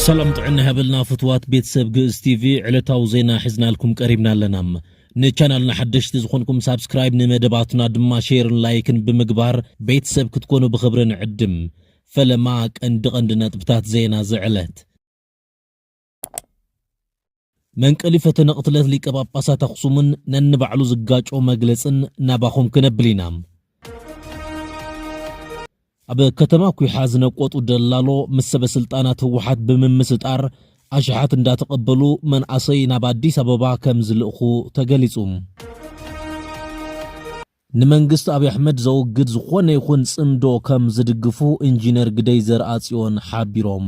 ሰላም ጥዕና ይሃበልና ፍትዋት ቤተሰብ ግእዝ ቲቪ ዕለታዊ ዜና ሒዝናልኩም ቀሪብና ኣለና ንቻናልና ሓደሽቲ ዝኾንኩም ሳብስክራይብ ንመደባትና ድማ ሼርን ላይክን ብምግባር ቤተሰብ ክትኮኑ ብኽብሪ ንዕድም ፈለማ ቀንዲ ቀንዲ ነጥብታት ዜና ዝዕለት መንቀሊ ፈተነ ቅትለት ሊቀ ጳጳሳት ኣኽሱምን ነንባዕሉ ዝጋጮ መግለጽን ናባኹም ክነብል ኢና። ኣብ ከተማ ኩሓ ዝነቆጡ ደላሎ ምስ ሰበ ስልጣናት ህወሓት ብምምስጣር ኣሽሓት እንዳተቐበሉ መንኣሰይ ናብ ኣዲስ ኣበባ ከም ዝልእኹ ተገሊጹ። ንመንግስቲ ኣብይ ኣሕመድ ዘወግድ ዝኾነ ይኹን ጽምዶ ከም ዝድግፉ ኢንጂነር ግደይ ዘርኣጽዮን ሓቢሮም።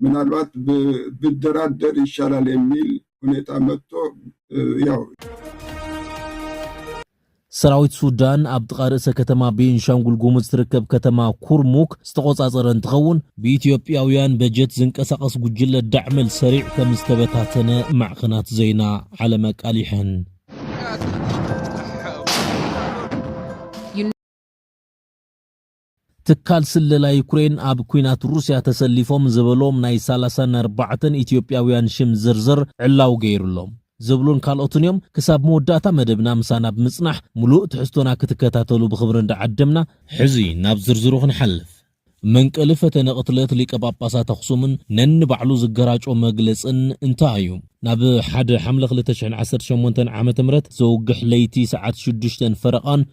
ምናልባት ብደራደር ይሻላል የሚል ሁኔታ መጥቶ ያው ሰራዊት ሱዳን ኣብ ጥቓ ርእሰ ከተማ ቤንሻንጉል ጉሙዝ ትርከብ ከተማ ኩርሙክ ዝተቖጻጸረ እንትኸውን ብኢትዮጵያውያን በጀት ዝንቀሳቐስ ጉጅለ ዳዕመል ሰሪዕ ከም ዝተበታተነ ማዕኸናት ዜና ዓለም ኣቃሊሐን። ትካል ስለላ ዩክሬን ኣብ ኲናት ሩስያ ተሰሊፎም ዝበሎም ናይ ሰላሳን ኣርባዕተን ኢትዮጵያውያን ሽም ዝርዝር ዕላዊ ገይሩ'ሎም። ዝብሉን ካልኦትን እዮም። ክሳብ መወዳእታ መደብና ምሳና ብምጽናሕ ምሉእ ትሕዝቶና ክትከታተሉ ብኽብሪ እንዳዓደምና፣ ሕዚ ናብ ዝርዝሩ ክንሓልፍ። መንቀሊ ፈተነ ቅትለት ሊቀ ጳጳሳት ኣኽሱምን ነንባዕሉ ዝገራጮ መግለጽን እንታይ እዩ? ናብ ሓደ ሓምለ ክልተ ሽሕን ዓሰርተ ሸሞንተን ዓመተ ምህረት ዘውግሕ ለይቲ ሰዓት ሽዱሽተን ፈረቓን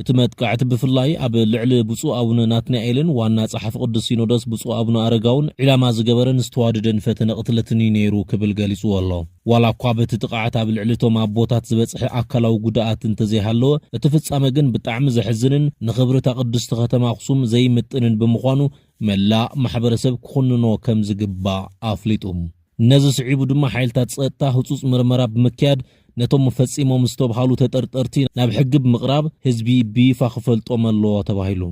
እቲ መጥቃዕቲ ብፍላይ ኣብ ልዕሊ ብፁዕ ኣቡነ ናትናኤልን ዋና ጸሓፊ ቅዱስ ሲኖዶስ ብፁዕ ኣቡነ ኣረጋውን ዒላማ ዝገበረን ዝተዋደደን ፈተነ ቅትለትን እዩ ነይሩ ክብል ገሊጽዎ ኣሎ። ዋላ እኳ በቲ ጥቕዓት ኣብ ልዕሊ እቶም ኣቦታት ዝበጽሐ ኣካላዊ ጉድኣት እንተዘይሃለወ፣ እቲ ፍጻመ ግን ብጣዕሚ ዘሕዝንን ንኽብሪ እታ ቅድስቲ ከተማ ኣኽሱም ዘይምጥንን ብምዃኑ መላእ ማሕበረሰብ ክኹንኖ ከምዝግባእ ኣፍሊጡ። ነዚ ስዒቡ ድማ ሓይልታት ፀጥታ ህፁፅ ምርመራ ብምክያድ ነቶም ፈፂሞም ዝተብሃሉ ተጠርጠርቲ ናብ ሕጊ ብምቕራብ ህዝቢ ብይፋ ክፈልጦም ኣለዎ ተባሂሉ።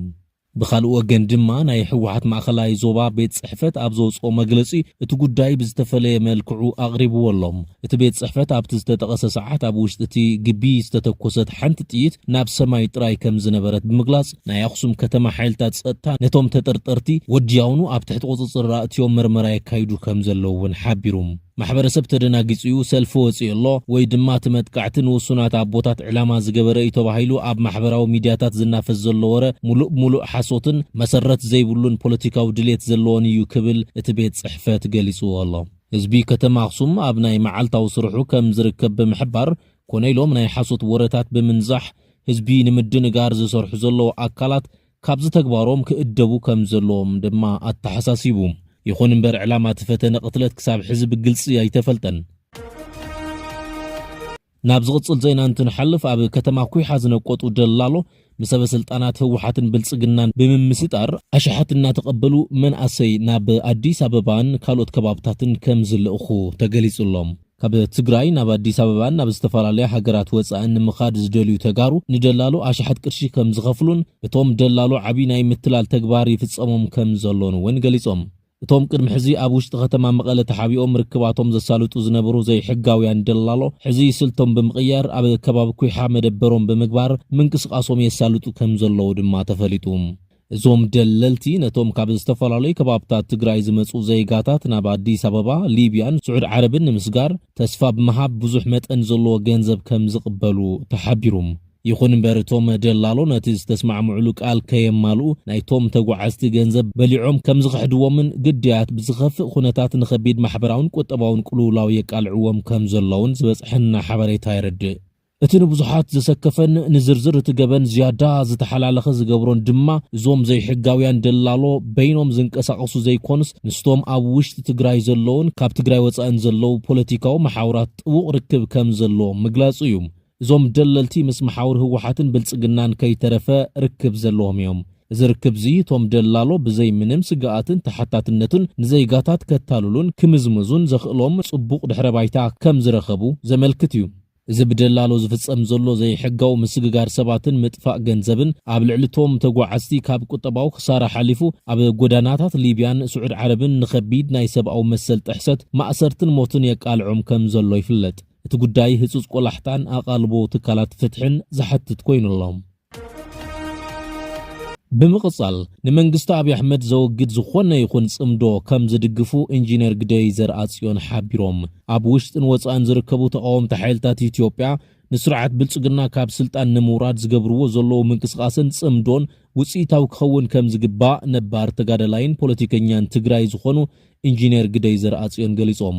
ብኻልእ ወገን ድማ ናይ ህወሓት ማእኸላይ ዞባ ቤት ፅሕፈት ኣብ ዘውፅኦ መግለፂ እቲ ጉዳይ ብዝተፈለየ መልክዑ ኣቕሪብዎ ኣሎ። እቲ ቤት ፅሕፈት ኣብቲ ዝተጠቐሰ ሰዓት ኣብ ውሽጢ እቲ ግቢ ዝተተኮሰት ሓንቲ ጥይት ናብ ሰማይ ጥራይ ከምዝነበረት ብምግላፅ፣ ናይ ኣኽሱም ከተማ ሓይልታት ጸጥታ ነቶም ተጠርጠርቲ ወዲያውኑ ኣብ ትሕቲ ቁጽጽር ኣእትዮም ምርመራ የካይዱ ከም ዘለዉ እውን ሓቢሩ። ማሕበረሰብ ተደናጊጹ እዩ፣ ሰልፊ ወጺኡ ኣሎ፣ ወይ ድማ እቲ መጥቃዕቲ ንውሱናት ኣቦታት ዕላማ ዝገበረ እዩ ተባሂሉ ኣብ ማሕበራዊ ሚድያታት ዝናፈስ ዘሎ ወረ ሙሉእ ብሙሉእ ሓሶትን መሰረት ዘይብሉን ፖለቲካዊ ድሌት ዘለዎን እዩ ክብል እቲ ቤት ጽሕፈት ገሊጹዎ ኣሎ። ህዝቢ ከተማ ኣኽሱም ኣብ ናይ መዓልታዊ ስርሑ ከም ዝርከብ ብምሕባር፣ ኮነ ኢሎም ናይ ሓሶት ወረታት ብምንዛሕ ህዝቢ ንምድንጋር ዝሰርሑ ዘለዉ ኣካላት ካብዚ ተግባሮም ክእደቡ ከም ዘለዎም ድማ ኣተሓሳሲቡ። ይኹን እምበር ዕላማ እቲ ፈተነ ቅትለት ክሳብ ሕዚ ብግልፂ ኣይተፈልጠን። ናብ ዝቕፅል ዜና እንትንሓልፍ ኣብ ከተማ ኲሓ ዝነቆጡ ደላሎ ንሰበ ስልጣናት ህወሓትን ብልፅግናን ብምምስጣር ኣሽሓት እናተቐበሉ መናእሰይ ናብ ኣዲስ ኣበባን ካልኦት ከባብታትን ከምዝልእኹ ተገሊፁ ኣሎ። ካብ ትግራይ ናብ ኣዲስ ኣበባን ናብ ዝተፈላለያ ሃገራት ወፃእን ንምኻድ ዝደልዩ ተጋሩ ንደላሎ ኣሽሓት ቅርሺ ከምዝኸፍሉን እቶም ደላሎ ዓብዪ ናይ ምትላል ተግባር ይፍፀሞም ከምዘሎን እውን ገሊፆም። እቶም ቅድሚ ሕዚ ኣብ ውሽጢ ከተማ መቐለ ተሓቢኦም ርክባቶም ዘሳልጡ ዝነበሩ ዘይሕጋውያን ደላሎ፣ ሕዚ ስልቶም ብምቕያር ኣብ ከባቢ ኲሓ መደበሮም ብምግባር ምንቅስቓሶም የሳልጡ ከምዘለዉ ድማ ተፈሊጡ። እዞም ደለልቲ ነቶም ካብ ዝተፈላለዩ ከባብታት ትግራይ ዝመፅኡ ዜጋታት ናብ ኣዲስ ኣበባ፣ ሊብያን ስዑድ ዓረብን ንምስጋር ተስፋ ብምሃብ ብዙሕ መጠን ዘለዎ ገንዘብ ከምዝቕበሉ ተሓቢሩም። ይኹን እምበር እቶም ደላሎ ነቲ ዝተስማዕምዑሉ ቃል ከየማልኡ ናይቶም ተጓዓዝቲ ገንዘብ በሊዖም ከምዝኽሕድዎምን ግዳያት ብዝኸፍእ ኩነታት ንኸቢድ ማሕበራውን ቁጠባውን ቅልውላው የቃልዕዎም ከምዘለውን ዝበፅሐና ሓበሬታ የረድእ። እቲ ንብዙሓት ዘሰከፈን ንዝርዝር እቲ ገበን ዝያዳ ዝተሓላለኸ ዝገብሮን ድማ እዞም ዘይሕጋውያን ደላሎ በይኖም ዝንቀሳቐሱ ዘይኮኑስ ምስቶም ኣብ ውሽጢ ትግራይ ዘለዉን ካብ ትግራይ ወፃእን ዘለዉ ፖለቲካዊ መሓውራት ጥቡቕ ርክብ ከምዘለዎም ምግላፁ እዩ። እዞም ደለልቲ ምስ መሓውር ህወሓትን ብልጽግናን ከይተረፈ ርክብ ዘለዎም እዮም። እዚ ርክብ'ዚ እቶም ደላሎ ብዘይ ምንም ስግኣትን ተሓታትነቱን ንዘይጋታት ከታልሉን ክምዝምዙን ዘኽእሎም ጽቡቕ ድሕረ ባይታ ከም ዝረኸቡ ዘመልክት እዩ። እዚ ብደላሎ ዝፍጸም ዘሎ ዘይሕጋዊ ምስግጋር ሰባትን ምጥፋእ ገንዘብን፣ ኣብ ልዕሊ'ቶም ተጓዓዝቲ ካብ ቁጠባዊ ክሳራ ሓሊፉ ኣብ ጎዳናታት ሊብያን ስዑድ ዓረብን ንኸቢድ ናይ ሰብኣዊ መሰል ጥሕሰት፣ ማእሰርትን ሞትን የቃልዖም ከም ዘሎ ይፍለጥ። እቲ ጉዳይ ህጹጽ ቆላሕታን ኣቓልቦ ትካላት ፍትሕን ዝሓትት ኮይኑ ኣሎ። ብምቕጻል ንመንግስቲ ኣብይ ኣሕመድ ዘወግድ ዝኾነ ይኹን ጽምዶ ከም ዝድግፉ ኢንጂነር ግደይ ዘርኣጽዮን ሓቢሮም። ኣብ ውሽጥን ወጻእን ዝርከቡ ተቓወምቲ ሓይልታት ኢትዮጵያ ንስርዓት ብልጽግና ካብ ስልጣን ንምውራድ ዝገብርዎ ዘለዉ ምንቅስቓስን ጽምዶን ውጽኢታዊ ክኸውን ከም ዝግባእ ነባር ተጋዳላይን ፖለቲከኛን ትግራይ ዝኾኑ ኢንጂነር ግደይ ዘርኣጽዮን ገሊጾም።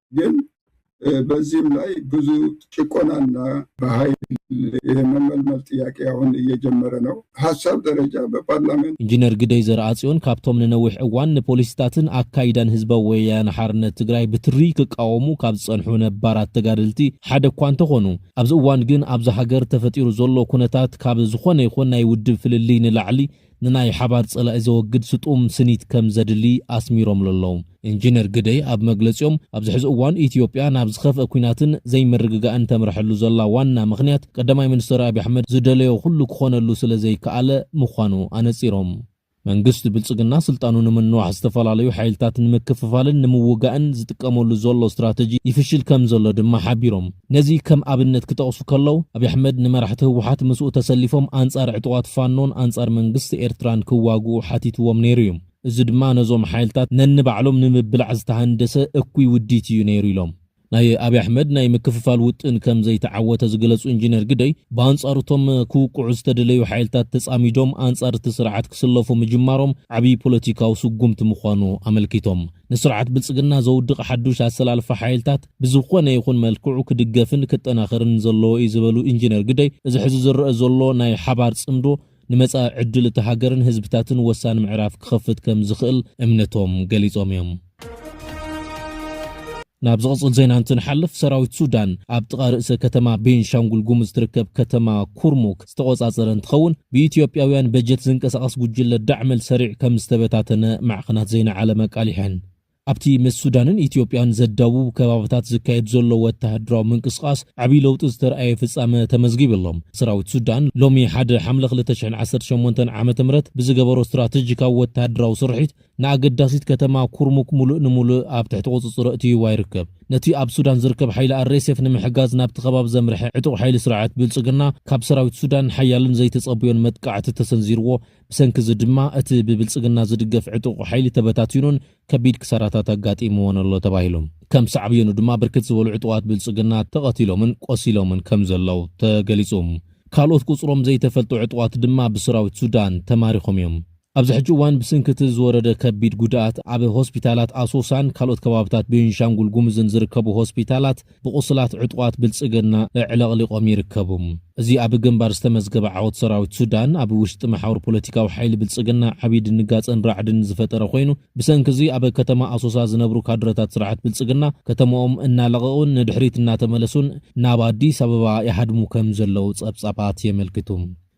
ግን በዚህም ላይ ብዙ ጭቆናና በሀይል የመመልመል ጥያቄ አሁን እየጀመረ ነው ሀሳብ ደረጃ በፓርላመንት ኢንጂነር ግደይ ዘርኣጽዮን ካብቶም ንነዊሕ እዋን ንፖሊሲታትን ኣካይዳን ህዝባዊ ወያነ ሓርነት ትግራይ ብትሪ ክቃወሙ ካብ ዝጸንሑ ነባራት ተጋደልቲ ሓደ እኳ እንተኾኑ፣ ኣብዚ እዋን ግን ኣብዛ ሃገር ተፈጢሩ ዘሎ ኩነታት ካብ ዝኾነ ይኹን ናይ ውድብ ፍልልይ ንላዕሊ ንናይ ሓባር ፀላኢ ዘወግድ ስጡም ስኒት ከም ዘድሊ ኣስሚሮምሉ ኣለው። ኢንጂነር ግደይ ኣብ መግለፂኦም፣ ኣብዚ ሕዚ እዋን ኢትዮጵያ ናብ ዝኸፍኣ ኲናትን ዘይምርግጋእን ተምረሐሉ ዘላ ዋና ምኽንያት ቀዳማይ ሚኒስትር ኣብይ ኣሕመድ ዝደለዮ ኩሉ ክኾነሉ ስለ ዘይከኣለ ምዃኑ ኣነፂሮም። መንግስቲ ብልፅግና ስልጣኑ ንምንዋሕ ዝተፈላለዩ ሓይልታት ንምክፍፋልን ንምውጋእን ዝጥቀመሉ ዘሎ ስትራተጂ ይፍሽል ከም ዘሎ ድማ ሓቢሮም። ነዚ ከም ኣብነት ክጠቕሱ ከለው፣ ኣብይ ኣሕመድ ንመራሕቲ ህወሓት ምስኡ ተሰሊፎም ኣንጻር ዕጡቓት ፋኖን ኣንጻር መንግስቲ ኤርትራን ክዋግኡ ሓቲትዎም ነይሩ እዩ። እዚ ድማ ነዞም ሓይልታት ነንባዕሎም ንምብላዕ ዝተሃንደሰ እኩይ ውዲት እዩ ነይሩ ኢሎም። ናይ ኣብይ ኣሕመድ ናይ ምክፍፋል ውጥን ከም ዘይተዓወተ ዝገለጹ ኢንጂነር ግደይ፣ ብኣንጻሩ እቶም ክውቅዑ ዝተደለዩ ሓይልታት ተጻሚዶም ኣንጻር እቲ ስርዓት ክስለፉ ምጅማሮም ዓብይ ፖለቲካዊ ስጉምቲ ምዃኑ ኣመልኪቶም። ንስርዓት ብልጽግና ዘውድቕ ሓዱሽ ኣሰላልፋ ሓይልታት፣ ብዝኾነ ይኹን መልክዑ ክድገፍን ክጠናኸርን ዘለዎ እዩ ዝበሉ ኢንጂነር ግደይ፣ እዚ ሕዚ ዝረኣ ዘሎ ናይ ሓባር ፅምዶ ንመፃኢ ዕድል እታ ሃገርን ህዝብታትን ወሳኒ ምዕራፍ ክኸፍት ከምዝኽእል እምነቶም ገሊፆም እዮም። ናብ ዝቕፅል ዜና እንትንሓልፍ፣ ሰራዊት ሱዳን ኣብ ጥቓ ርእሰ ከተማ ቤንሻንጉል ጉሙዝ ትርከብ ከተማ ኩርሙክ ዝተቖፃፀረ እንትኸውን፣ ብኢትዮጵያውያን በጀት ዝንቀሳቐስ ጉጅለ ዳዕመል ሰሪዕ ከምዝተበታተነ ማዕኸናት ዜና ዓለም ኣቃሊሐን። ኣብቲ ምስ ሱዳንን ኢትዮጵያን ዘዳውብ ከባብታት ዝካየድ ዘሎ ወተሃደራዊ ምንቅስቓስ ዓብዪ ለውጢ ዝተርኣየ ፍፃመ ተመዝጊቡ ኣሎ። ሰራዊት ሱዳን ሎሚ ሓደ ሓምለ ክልተ ሽሕን ዓሰርተ ሸሞንተን ዓመተ ምህረት ብዝገበሮ ስትራቴጂካዊ ወተሃደራዊ ስርሒት ንኣገዳሲት ከተማ ኩርሙክ ሙሉእ ንሙሉእ ኣብ ትሕቲ ቁፅፅሩ ኣእትይዋ ይርከብ። ነቲ ኣብ ሱዳን ዝርከብ ሓይሊ RSF ንምሕጋዝ ናብቲ ከባቢ ዘምርሐ ዕጡቕ ሓይሊ ስርዓት ብልፅግና ካብ ሰራዊት ሱዳን ሓያልን ዘይተፀበዮን መጥቃዕቲ ተሰንዚርዎ ብሰንኪ እዚ ድማ እቲ ብብልፅግና ዝድገፍ ዕጡቕ ሓይሊ ተበታቲኑን ከቢድ ክሳራታት ኣጋጢምዎን ኣሎ ተባሂሉ። ከም ሳዕብዮኑ ድማ ብርክት ዝበሉ ዕጡቓት ብልፅግና ተቐቲሎምን ቆሲሎምን ከም ዘለዉ ተገሊፁ። ካልኦት ቁፅሮም ዘይተፈልጡ ዕጡቓት ድማ ብሰራዊት ሱዳን ተማሪኾም እዮም። ኣብዚ ሕጂ እዋን ብስንኪ እቲ ዝወረደ ከቢድ ጉድኣት ኣብ ሆስፒታላት ኣሶሳን ካልኦት ከባብታት ቤንሻንጉል ጉሙዝን ዝርከቡ ሆስፒታላት ብቑሱላት ዕጡቓት ብልጽግና ኣዕለቕሊቖም ይርከቡ። እዚ ኣብ ግንባር ዝተመዝገበ ዓወት ሰራዊት ሱዳን፣ ኣብ ውሽጢ መሓውር ፖለቲካዊ ሓይሊ ብልጽግና ዓብዪ ድንጋጸን ራዕድን ዝፈጠረ ኮይኑ፣ ብሰንኪ'ዚ ኣብ ከተማ ኣሶሳ ዝነብሩ ካድረታት ስርዓት ብልጽግና ከተማኦም እናለቐቑን ንድሕሪት እናተመለሱን ናብ ኣዲስ ኣበባ ይሃድሙ ከምዘለዉ ጸብጻባት የመልክቱ።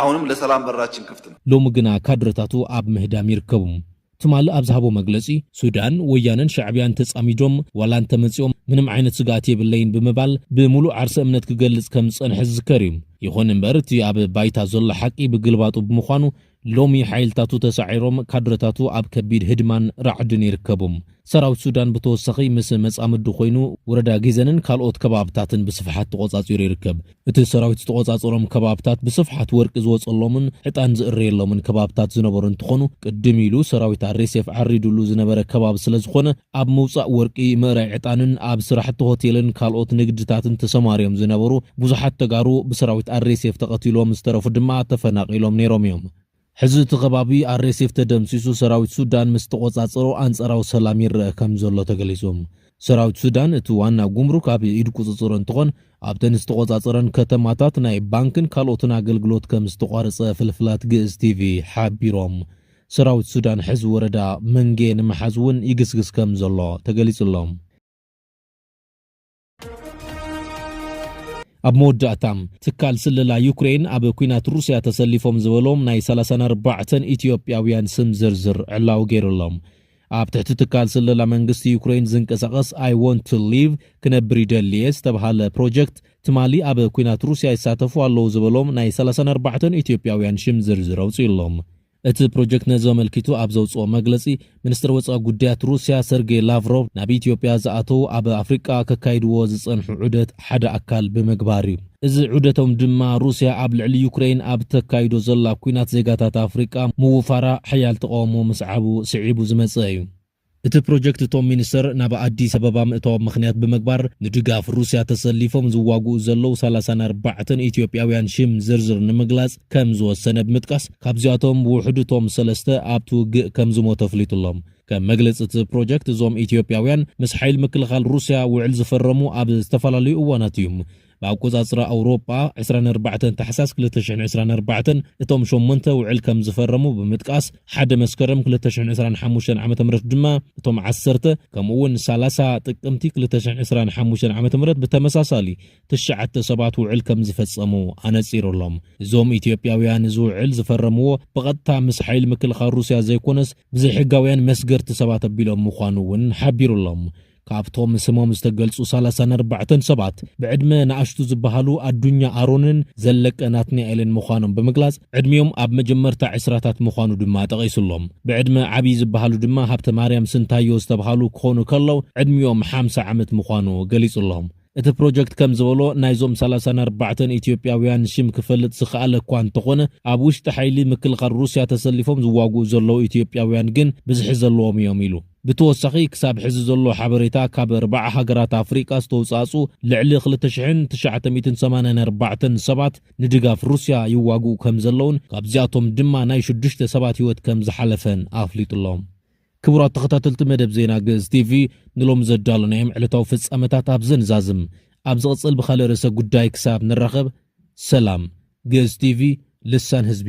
ኣሁንም ለሰላም በራችን ክፍት ነው። ሎሚ ግና ካድረታቱ ኣብ ምህዳም ይርከቡ። ትማል ኣብ ዝሃቦ መግለጺ፣ ሱዳን፣ ወያነን ሻዕብያን ተጻሚዶም ዋላ እንተመጺኦም ምንም ዓይነት ስግኣት የብለይን ብምባል ብምሉእ ዓርሰ እምነት ክገልጽ ከም ዝጸንሐ ዝዝከር እዩ። ይኹን እምበር እቲ ኣብ ባይታ ዘሎ ሓቂ ብግልባጡ ብምዃኑ ሎሚ ሓይልታቱ ተሳዒሮም ካድረታቱ ኣብ ከቢድ ህድማን ራዕድን ይርከቡ። ሰራዊት ሱዳን ብተወሳኺ ምስ መጻምዱ ኮይኑ ወረዳ ጊዘንን ካልኦት ከባብታትን ብስፍሓት ተቖጻጺሩ ይርከብ። እቲ ሰራዊት ዝተቖጻጸሮም ከባብታት ብስፍሓት ወርቂ ዝወጸሎምን ዕጣን ዝእረየሎምን ከባብታት ዝነበሩ እንትኾኑ ቅድም ኢሉ ሰራዊት ኣርኤስኤፍ ዓሪዱሉ ዝነበረ ከባቢ ስለዝኾነ ኣብ ምውጻእ ወርቂ፣ ምእራይ ዕጣንን ኣብ ስራሕቲ ሆቴልን ካልኦት ንግድታትን ተሰማርዮም ዝነበሩ ብዙሓት ተጋሩ ብሰራዊት ኣርኤስኤፍ ተቐቲሎም ዝተረፉ ድማ ተፈናቒሎም ነይሮም እዮም። ሕዚ እቲ ከባቢ RSF ተደምሲሱ ሰራዊት ሱዳን ምስ ተቖጻጸሮ ኣንጻራዊ ሰላም ይረኣ ከምዘሎ ተገሊጹ። ሰራዊት ሱዳን እቲ ዋና ጉምሩክ ኣብ ኢድ ቁጽጽሩ እንትኾን ኣብተን ዝተቖጻጸረን ከተማታት ናይ ባንክን ካልኦትን ኣገልግሎት ከምዝተቋረጸ ፍልፍላት ግእዝ ቲቪ ሓቢሮም። ሰራዊት ሱዳን ሕዚ ወረዳ መንጌ ንምሓዝ እውን ይግስግስ ከምዘሎ ተገሊጹ ኣሎ። ኣብ መወዳእታ ትካል ስለላ ዩክሬን ኣብ ኩናት ሩስያ ተሰሊፎም ዝበሎም ናይ 34 ኢትዮጵያውያን ስም ዝርዝር ዕላዊ ገይሩሎም ኣብ ትሕቲ ትካል ስለላ መንግስቲ ዩክሬን ዝንቀሳቐስ ኣይ ወንት ቱ ሊቭ ክነብር ይደልየ ዝተብሃለ ፕሮጀክት ትማሊ ኣብ ኩናት ሩስያ ይሳተፉ ኣለዉ ዝበሎም ናይ 34 ኢትዮጵያውያን ሽም ዝርዝር ኣውፅኡሎም እቲ ፕሮጀክት ነዚ ኣመልኪቱ ኣብ ዘውጽኦ መግለጺ፣ ሚኒስተር ወጻኢ ጉዳያት ሩስያ ሰርጌ ላቭሮቭ ናብ ኢትዮጵያ ዝኣተው ኣብ ኣፍሪቃ ከካይድዎ ዝጸንሑ ዑደት ሓደ ኣካል ብምግባር'ዩ። እዚ ዑደቶም ድማ ሩስያ ኣብ ልዕሊ ዩክረይን ኣብ እተካይዶ ዘላ ኲናት ዜጋታት ኣፍሪቃ ምውፋራ ሓያል ተቓውሞ ምስዓቡ ስዒቡ ዝመጸ እዩ። እቲ ፕሮጀክት እቶም ሚኒስትር ናብ ኣዲስ ኣበባ ምእታዎም ምኽንያት ብምግባር ንድጋፍ ሩስያ ተሰሊፎም ዝዋግኡ ዘለዉ ሰላሳን ኣርባዕተን ኢትዮጵያውያን ሽም ዝርዝር ንምግላፅ ከምዝወሰነ ብምጥቃስ ካብዚኣቶም ብውሕዱ እቶም ሰለስተ ኣብቲ ውግእ ከምዝሞቱ ኣፍሊጡ'ሎ። ከም መግለፂ እቲ ፕሮጀክት እዞም ኢትዮጵያውያን ምስ ሓይሊ ምክልኻል ሩስያ ውዕል ዝፈረሙ ኣብ ዝተፈላለዩ እዋናት እዩ። ብኣቆጻጽራ ኣውሮጳ፣ ዕስራን ኣርባዕተን ታሕሳስ ክልተ ሽሕን ዕስራን ኣርባዕተን እቶም ሸሞንተ ውዕል ከም ዝፈረሙ ብምጥቃስ፣ ሓደ መስከረም ክልተ ሽሕን ዕስራን ሓሙሽተን ዓመተ ምህረት ድማ እቶም ዓሰርተ፣ ከምኡ'ውን ሰላሳ ጥቅምቲ ክልተ ሽሕን ዕስራን ሓሙሽተን ዓመተ ምህረት ብተመሳሳሊ ትሽዓተ ሰባት ውዕል ከም ዝፈጸሙ ኣነጺሩ'ሎም። እዞም ኢትዮጵያውያን እዚ ውዕል ዝፈረምዎ ብቐጥታ ምስ ሓይሊ ምክልኻል ሩስያ ዘይኮነስ ብዘይሕጋውያን መስገርቲ ሰባት ኣቢሎም ምዃኑ'ውን ሓቢሩ'ሎም። ካብቶም ስሞም ዝተገልጹ ሰላሳን ኣርባዕተን ሰባት ብዕድመ ንኣሽቱ ዝበሃሉ ኣዱኛ ኣሮንን ዘለቀ ናትናኤልን ምዃኖም ብምግላጽ ዕድሚኦም ኣብ መጀመርታ ዕስራታት ምዃኑ ድማ ጠቒሱ ኣሎ። ብዕድመ ዓብዪ ዝበሃሉ ድማ ሃብተማርያም ስንታዮ ዝተብሃሉ ክኾኑ ከለው ዕድሚኦም ሓምሳ ዓመት ምዃኑ ገሊጹ ኣሎ። እቲ ፕሮጀክት ከም ዝበሎ፣ ናይዞም ሰላሳን ኣርባዕተን ኢትዮጵያውያን ሽም ክፈልጥ ዝኸኣለ እኳ እንተኾነ፣ ኣብ ውሽጢ ሓይሊ ምክልኻል ሩስያ ተሰሊፎም ዝዋግኡ ዘለዉ ኢትዮጵያውያን ግን ብዝሒ ዘለዎም እዮም ኢሉ። ብተወሳኺ፣ ክሳብ ሕዚ ዘሎ ሓበሬታ ካብ ኣርባዓ ሃገራት ኣፍሪቃ ዝተውጻእጽኡ ልዕሊ ክልተ ሽሕን ትሽዓተ ሚእትን ሰማንያን ኣርባዕተን ሰባት ንድጋፍ ሩስያ ይዋግኡ ከም ዘለዉን ካብዚኣቶም ድማ ናይ ሽዱሽተ ሰባት ህይወት ከም ዝሓለፈን ኣፍሊጡ'ሎ። ክቡራት ተኸታተልቲ መደብ ዜና ግእዝ ቲቪ፣ ንሎሚ ዘዳሎናዮም ዕለታዊ ፍጻመታት ኣብዚ ንዛዝም። ኣብ ዝቕጽል ብኻልእ ርእሰ ጉዳይ ክሳብ ንራኸብ ሰላም። ግእዝ ቲቪ ልሳን ህዝቢ።